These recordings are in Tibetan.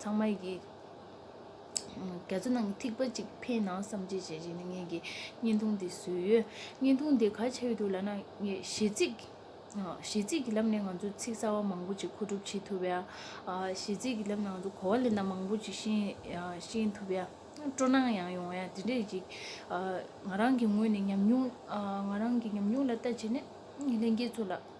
ཚང་མ་ཡིས། རྒྱ་མཚོ་ནང་གི་ཐིགས་པ་གཅིག་འཕེན་ན་བསམ་གྱིས་བརྗེད་བྱེད་ནི་ངེད་ཀྱི་བརྙན་ཐུང་དེ་བཟོས་ཡོད། བརྙན་ཐུང་དེ་ག་ཆེ་བའི་དུས་ལ་ན་ངས་གཞས་ཚིག་གཞས་ཚིག་གི་ལམ་ནས་ང་ཚོས་ཚིག་གསར་བ་མང་པོ་ཅིག་མཁོ་སྒྲུབ་བྱེད་ཐུབ་ཡ། གཞས་ཚིག་གི་ལམ་ནས་ང་ཚོས་གོ་བ་ལེན་སྟངས་མང་པོ་ཅིག་ཤེས་ཐུབ་ཡ། སྤྲོ་སྣང་ཡང་ཡོང་ཡ་དེ་འདྲས་ཅིག་ང་རང་གི་ངོས་ནས་ཉམས་མྱོང་ང་རང་གི་ཉམས་མྱོང་ལ་ལྟ་བྱས་ནས་ལྷན་རྒྱས་ཚོ་ལ།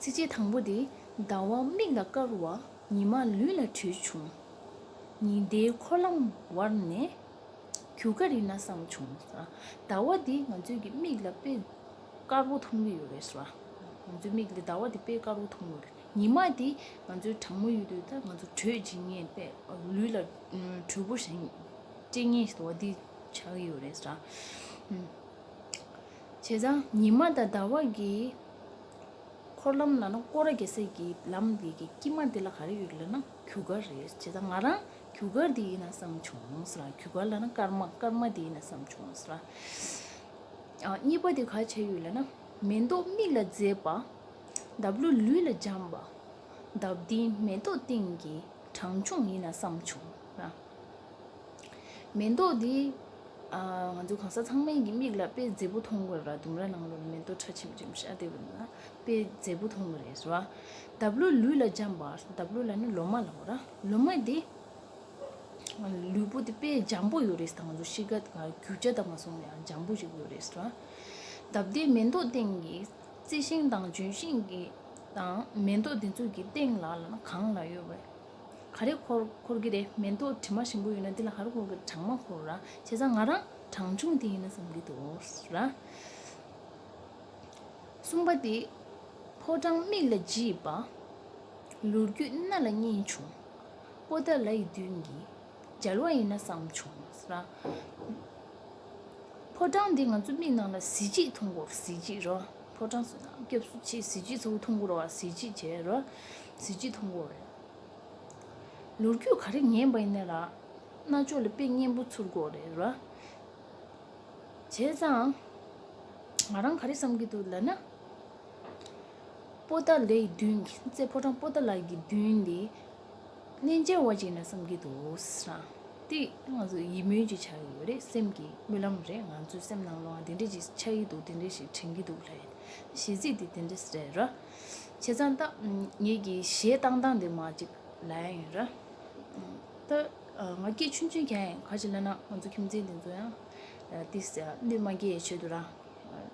ཚིགས་བཅད་དང་པོ་འདི། ཟླ་བ་མིག་ལ་དཀར་བ་ཉི་མ་ལུས་ལ་དྲོད་བྱུང། ཉི་ཟླའི་འཁོར་ལམ་བར་ནས་གུ་ག་རི་ན་བསང་བྱུང། ཟླ་བ་འདི་ང་ཚོས་ཀྱི་མིག་ལ་དཔེ་དཀར་བོ་མཐོང་གི་ཡོད་རེད་ཟེར་བ། ང་ཚོའི་མིག་ལ་ཟླ་བ་འདི་དཔེ་དཀར་བོ་མཐོང་ཡོད། ཉི་མ་འདི་ང་ཚོའི་གྲང་མོ་ཡོད་དུས་ང་ཚོ་དྲོད་སྦྱིན་ངེས་པས་ལུས་ལ་དྲོད་བོ་ཞིག་སྤྲད་ངེས་ཟེར་བ་འདི་ཆགས་ཡོད་རེད་ཟེར། བྱས་ཙང་ཉི་མ་དང་ཟླ་བ་གི་འཁོར་ལམ་ལ་ན་ཀོ་ར་གེ་སེར་གྱི་ལམ་དེ་གི་དཀྱིལ་མ་དེ་ལ་ག་རེ་ཡོད་ལ་ན་གུ་གར་རེད་བྱས་ཙང་ང་རང་གུ་གར་དེ་ཡིན་ན་བསམ་བྱུང་ཟེར་ལ་གུ་གར་ལ་ན་སྐར་མ་སྐར་མ་དེ་ཡིན་ན་བསམ་བྱུང་ཟེར་ལ། གཉིས་པ་དེ་ག་བྱས་ཡོད་ལ་ན་མེ་ཏོག་མིག་ལ་མཛེས་པ་འདབ་ལོ་ལུས་ལ་འཇམ་པ་འདབ་དེའི་མེ་ཏོག་སྟེང་གི་གྲངས་ཆུང་ཡིན་ན་བསམ་བྱུང་ཟེར་ལ། མེ་ཏོག་འདི། ང་ཚོ་གང་ཟག་ཚང་མའི་གི་མིག་ལ་དཔེ་མཛེས་པོ་མཐོང་དགོས་ར་ལྡུམ་ར་ནང་ལོ་ལ་མེ་ཏོག་ཁྲ་ཆེམ་ཆེམ་ཤར་བསྡད་པ་འདི་ན་དཔེ་མཛེས་པོ་མཐོང་གི་རེད་ཟེར་བ། འདབ་ལོ་ལུས་ལ་འཇམ་པ་འདབ་ལོ་ལ་ནི་ལོ་མ་ལ་བ་ར་ལོ་མ་འདི། ལུས་པོ་འདི་དཔེ་འཇམ་པོ་ཡོད་རེད་ཟེར་ང་ཚོ་གཤིས་ཀ་དང་རྒྱུ་ཆ་དང་མ་སོང་བ་ཡང་འཇམ་པོ་ཞིག་ཡོད་རེད་ཟེར་བ། འདབ་དེའི་མེ་ཏོག་སྟེང་གི་རྩི་ཤིང་དང་ལྗོན་ཤིང་གི་དང་མེ་ཏོག་འདི་ཚོ་གི་སྟེང་ལ་ལ་ན་གང་ལ་ཡོད་པ། ག་རེ་འཁོར་འཁོར་གི་རེད་མེ་ཏོག་དྲི་མ་ཞིམ་པོ་ཡོད་ན་འདི་ལ་ག་རེ་འཁོར་གི་གྲང་མ་འཁོར་ར་བྱས་ཙང་ང་རང་གྲང་ཆུང་དེ་ཡིན་ན་བསམ་གི་འདུག་ར། གསུམ་པ་དེ་ཕོ་བྲང་མིག་ལ་བརྗིད་པ། ལུས་རྒྱུད་སྣ་ལ་སྙིང་ཆུང། པོ་ཏཱ་ལ་ཡི་དུས་ཀྱི། འཇལ་བ་ཡིན་ན་བསམ་བྱུང། ཕོ་བྲང་འདི་ང་ཚོའི་མིག་ནང་ལ་གཟི་བརྗིད་འཐུང་གོ་གཟི་བརྗིད་རོལ། ཕོ་བྲང་སོ་ནམ་སྐྱབས་སུ་མཆི་གཟི་བརྗིད་ཚོ་འཐུང་གོ་རོལ་བ་གཟི་བརྗིད་བྱས་རོལ་གཟི་བརྗིད་འཐུང་གོ། ལོ་རྒྱུས་ག་རེ་ཉན་པ་ཡིན་ན་རྣ་ཅོག་ལ་དཔེ་སྙན་པོ་ཚུར་གོ་རེ་རོལ་བྱས་ཙང། ང་རང་ག་རེ་བསམ་གྱི་འདུག་ལབ་ན། པོ་ཏཱ་ལའི་མདུན་གྱི་རྩེ་ཕོ་བྲང་པོ་ཏཱ་ལའི་གི་མདུན་དེ། གནས་འཇལ་བ་ཅིག་ན་བསམ་གྱི་འདུག་བསམ་སྟེ། ང་ཚོ་ཡིད་སྨོན་གྱི་ཆགས་ཀྱི་ཡོད་རེད་སེམས་ཀྱི་རྨི་ལམ་རེད་ང་ཚོའི་སེམས་ནང་ལའང་དེ་འདྲས་ཅིག་ཆགས་ཀྱི་འདུག་དེ་འདྲས་ཤིག་དྲན་གྱི་འདུག་ལྷའི་ཞལ་གཟིགས་དེ་དེ་འདྲས་རེད་ར། བྱས་ཙང་ད་ངེད་ཀྱི་ཞལ་གཏང་སྟངས་དེ་མ་ཅིག་ལ་ཡང་ཡིན་ར། ད་ང་སྐད་ཆུང་ཆུང་གྱང་ཡང་ག་ཅིག་ལ་ན་ང་ཚོ་ཁྱིམ་མཚེས་དེ་ཚོ་ཡང་དེ་སེམས་ནུས་མ་འགྱེད་ཡའི་ཆེད་དུ་རང།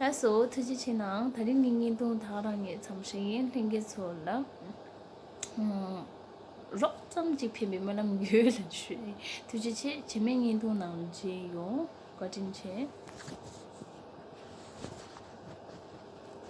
ལྷ་སོ་ཐུགས་རྗེ་ཆེ་ནའང་ད་རིང་གི་བརྙན་ཐུང་དག་རང་ཉིད་ཚོམ་ཧྲི་ཡན་ལྷན་རྒྱས་ཚོ་ལ་རོགས་ཙམ་གཅིག་ཕན་པའི་སྨོན་ལམ་རྒྱུད་ལ་ཞུ། ཐུགས་རྗེ་ཆེ་བྱེ་མའི་བརྙན་ཐུང་ནང་བྱིན་ཡོང་བཀའ་དྲིན་ཆེ།